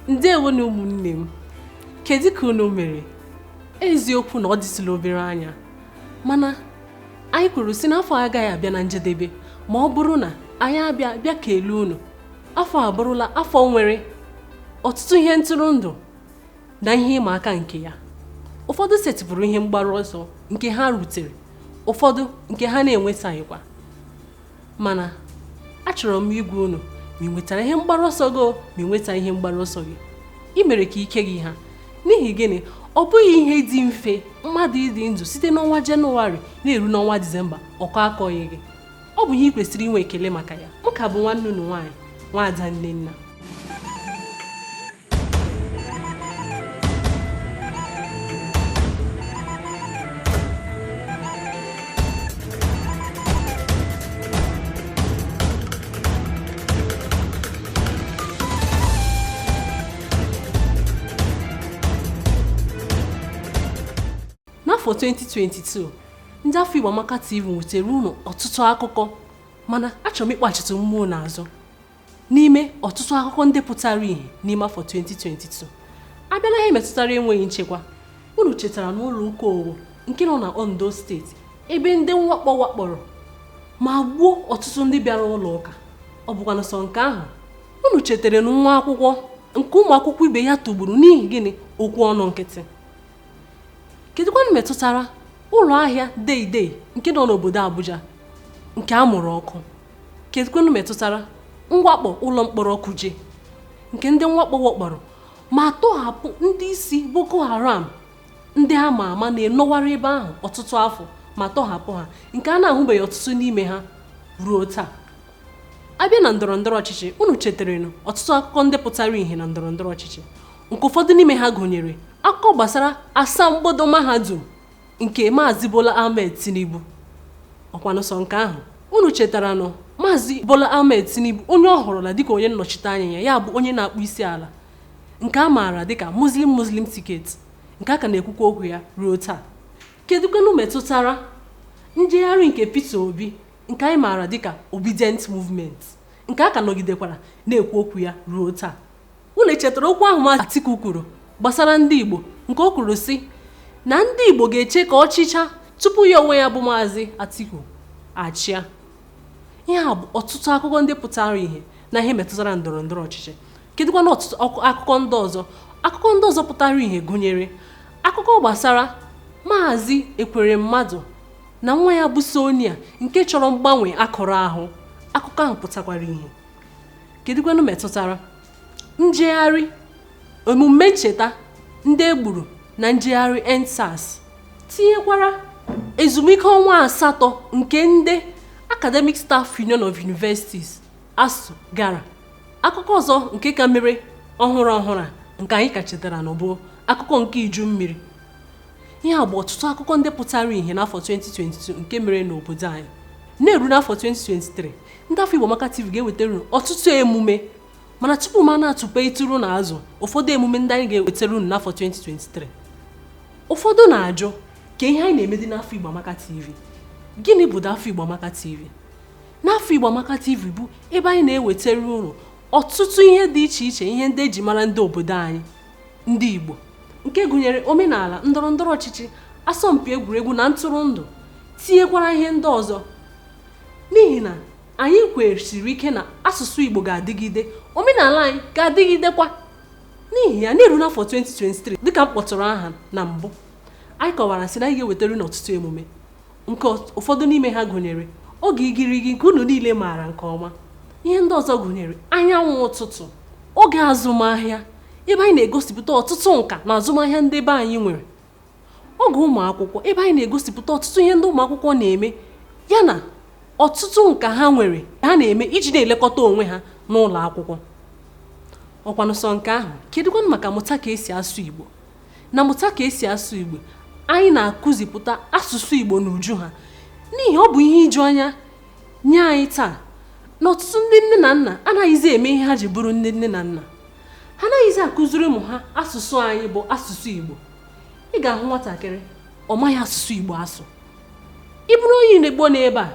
ndewo nụ ụmụnne m kedu ka unu mere eziokwu na ọ dịsịla obere anya mana anyị kwuru sị na afọ agaghị abịa na njedebe ma ọ bụrụ na anyị abịa bịa kelee unu afọ a abụrụla afọ nwere ọtụtụ ihe ntụrụndụ na ihe ịma aka nke ya ụfọdụ setịpụrụ ihe mgbaru ọsọ nke ha rutere ụfọdụ nke ha na-enwetaghịkwa mana achọrọ m ịgwa unu ma i nwetara ihe mgbaru ọsọ gị ma i nweta ihe mgbaru ọsọ gị i mere ka ike gị ha n'ihi gịnị ọ bụghị ihe dị mfe mmadụ ịdị ndụ site n'ọnwa jenụwarị na-eru n'ọnwa disemba ọkọ akọghị gị ọ bụ ihe ị kwesịrị inwe ekele maka ya m ka bụ nwanne unu nwaanyị nwaada nnenna n'afọ 2022 ndị afọ Igbo Amaka TV wetara unu ọtụtụ akụkọ mana achọrọ m ịkpachitụ mmụọ unu azụ n'ime ọtụtụ akụkọ ndị pụtara ìhè n'ime afọ 2022 a bịa na ihe metụtara enweghị nchekwa unu chetaranụ ụlọ ụka owo nke nọ na ondo steeti ebe ndị mwakpo wakporo ma gbuo ọtụtụ ndị bịara ụlọ ụka ọ bụkwanụ sọ nke ahụ unu chetaranụ nwa akwụkwọ nke ụmụ akwụkwọ ibe ya tụgburu n'ihi gịnị okwu ọnụ nkịtị kedụkwanụ metụtara ụlọ ahịa deidei nke nọ n'obodo Abuja nke a mụrụ ọkụ kedụkwanụ metụtara mwakpo ụlọ mkpọrọ Kuje nke ndị mwakpo wakporo ma tọhapụ ndị isi Boko Haram ndị a ma ama na-enọwara ebe ahụ ọtụtụ afọ ma tọhapụ ha nke a na-ahụbeghị ọtụtụ n'ime ha ruo taa a bịa na ndọrọ ndọrọ ọchịchị unu chetaranụ ọtụtụ akụkọ ndị pụtara ìhè na ndọrọ ndọrọ ọchịchị nke ụfọdụ n'ime ha gụnyere akụkọ gbasara asambodo mahadum nke Maazị Bola Ahmed Tinubu ọ kwanụ sọ nke ahụ unu chetaranụ Maazị Bola Ahmed Tinubu onye ọ họrọla dịka onye nnọchite anya ya ya bụ onye na-akpọ isi ala nke a maara dịka Muslim Muslim ticket nke a ka na-ekwukwa okwu ya ruo taa kedụkwanụ metụtara njegharị nke Peter Obi nke anyị maara dịka Obidient Movement nke a ka nọgidekwara na-ekwu okwu ya ruo taa unu chetara okwu ahụ Maazị Atiku kwuru gbasara ndị Igbo nke o kwuru sị na ndị Igbo ga-eche ka ọ chịchaa tupu ya onwe ya bụ Maazị Atiku achịa ihe a bụ ọtụtụ akụkọ ndị pụtara ìhè na ihe metụtara ndọrọ ndọrọ ọchịchị kedụkwanụ ọtụtụ akụkọ ndị ọzọ akụkọ ndị ọzọ pụtara ìhè gụnyere akụkọ gbasara Maazị Ekweremadu na nwa ya bụ Sonia nke chọrọ mgbanwe akụrụ ahụ akụkọ ahụ pụtakwara ìhè kedụkwanụ metụtara njegharị omume ncheta ndị e gburu na njegharị EndSARS tinyekwara ezumike ọnwa asatọ nke ndị academic staff union of universities ASUU gara akụkọ ọzọ nke ka mere ọhụrụ ọhụrụ a nke anyị ka chetara na ọ bụ akụkọ nke iju mmiri ihe a bụ ọtụtụ akụkọ ndị pụtara ihe n'afọ 2022 nke mere n'obodo anyị na-eru n'afọ 2023 ndị afọ Igbo Amaka TV ga-ewetara ọtụtụ emume mana tupu m na-atụpetụrụ unu azụ ụfọdụ emume ndị anyị ga-ewetara unu n'afọ 2023 ụfọdụ na-ajụ kee ihe anyị na-emedị n'afọ Igbo Amaka TV gịnị bụ afọ Igbo Amaka TV n'afọ Igbo Amaka TV bụ ebe anyị na-ewetara unu ọtụtụ ihe dị iche iche ihe ndị eji mara ndị obodo anyị ndị Igbo nke gụnyere omenala ndọrọ ndọrọ ọchịchị asọmpi egwuregwu na ntụrụndụ tinyekwara ihe ndị ọzọ n'ihi na anyị kwesiri ike na asụsụ Igbo ga-adịgide omenala anyị ga-adịgidekwa n'ihi ya na-eru n'afọ 2023 dịka m kpọtụrụ aha na mbụ anyị kọwara sị na anyị ga-ewetara unu ọtụtụ emume nke ụfọdụ n'ime ha gụnyere oge igirigi nke unu niile maara nke ọma ihe ndị ọzọ gụnyere anyanwụ ụtụtụ oge azụmahịa ebe anyị na-egosipụta ọtụtụ nka na azụmahịa ndị be anyị nwere oge ụmụ akwụkwọ ebe anyị na-egosipụta ọtụtụ ihe ndị ụmụ akwụkwọ na-eme yana ọtụtụ nka ha nwere ha na-eme iji na-elekọta onwe ha n'ụlọ akwụkwọ ọkwanụ sọ nke ahụ kedụkwanụ maka mụta ka esi asụ Igbo na mụta ka esi asụ Igbo anyị na-akụzipụta asụsụ Igbo n'uju ha n'ihi ọ bụ ihe iju anya nye anyị taa na ọtụtụ ndị nne na nna anaghịzi eme ihe ha ji bụrụ ndị nne na nna ha anaghịzi akụziri ụmụ ha asụsụ anyị bụ asụsụ Igbo ị ga-ahụ nwatakịrị ọ maghị asụsụ Igbo asụ ị bụrụ onye Igbo n'ebe a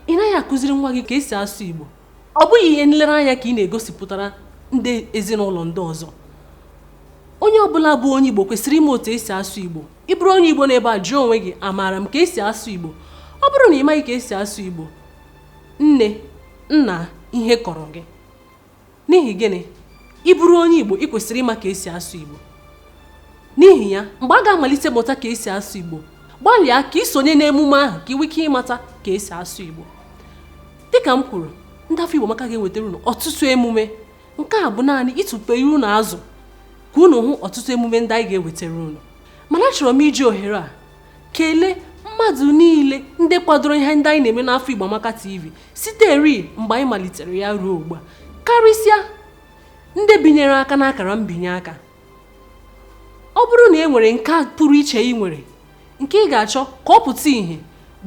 ị naghị akụziri nwa gị ka esi asụ Igbo ọ bụghị ihe nlereanya ka ị na-egosipụtara ndị ezinụlọ ndị ọzọ onye ọbụla bụ onye Igbo kwesịrị ịma otu esi asụ Igbo ị bụrụ onye Igbo n'ebe a jụọ onwe gị amaara m ka esi asụ Igbo ọ bụrụ na ị maghị ka esi asụ Igbo nne nna ihe kọrọ gị N'ihi gịnị? Ị bụrụ onye Igbo, ị kwesịrị ịma ka esi asụ Igbo. N'ihi ya, mgbe a ga-amalite mụta ka esi asụ Igbo, gbalịa ka ị sonye n'emume ahụ ka ị nwee ike ịmata ka esi asụ Igbo. Dịka m kwuru, ndị afọ Igbo Amaka ga-ewetara unu ọtụtụ emume. Nke a bụ naanị ịtụpere unu azụ ka unu hụ ọtụtụ emume ndị anyị ga-ewetara unu. Mana achọrọ m iji ohere a kelee mmadụ niile ndị kwadoro ihe ndị anyị na-eme n'afọ Igbo Amaka TV siteri mgbe anyị malitere ya ruo ugbu a karịsịa ndị binyere aka n'akara mbinye aka ọ bụrụ na e nwere nke pụrụ iche ị nwere nke ị ga-achọ ka ọ pụta ìhè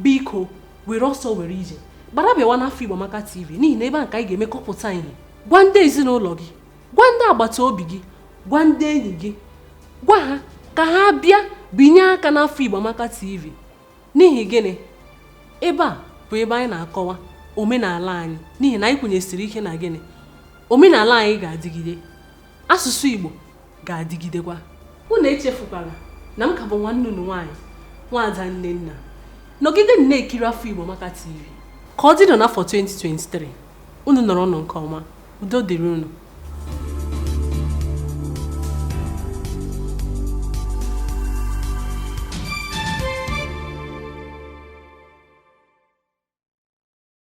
biko were ọsọ were ije gbara bịawa n'afọ Igbo Amaka TV n'ihi na ebe a ka anyị ga-eme ka ọ pụta ìhè gwa ndị ezinụlọ gị gwa ndị agbata obi gị gwa ndị enyi gị gwa ha ka ha bịa binye aka n'afọ Igbo Amaka TV N'ihi gịnị? Ebe a bụ ebe anyị na-akọwa omenala anyị n'ihi na anyị kwenyesiri ike na gịnị? Omenala anyị ga-adịgide, asụsụ Igbo ga-adịgidekwa. Unu echefukwala na m ka bụ nwanne unu nwaanyị Nwaada Nnenna. Nọgidenị na-ekiri afọ Igbo Amaka TV. Ka ọ dịnụ n'afọ 2023, unu nọrọnụ nke ọma. udo dịrị unu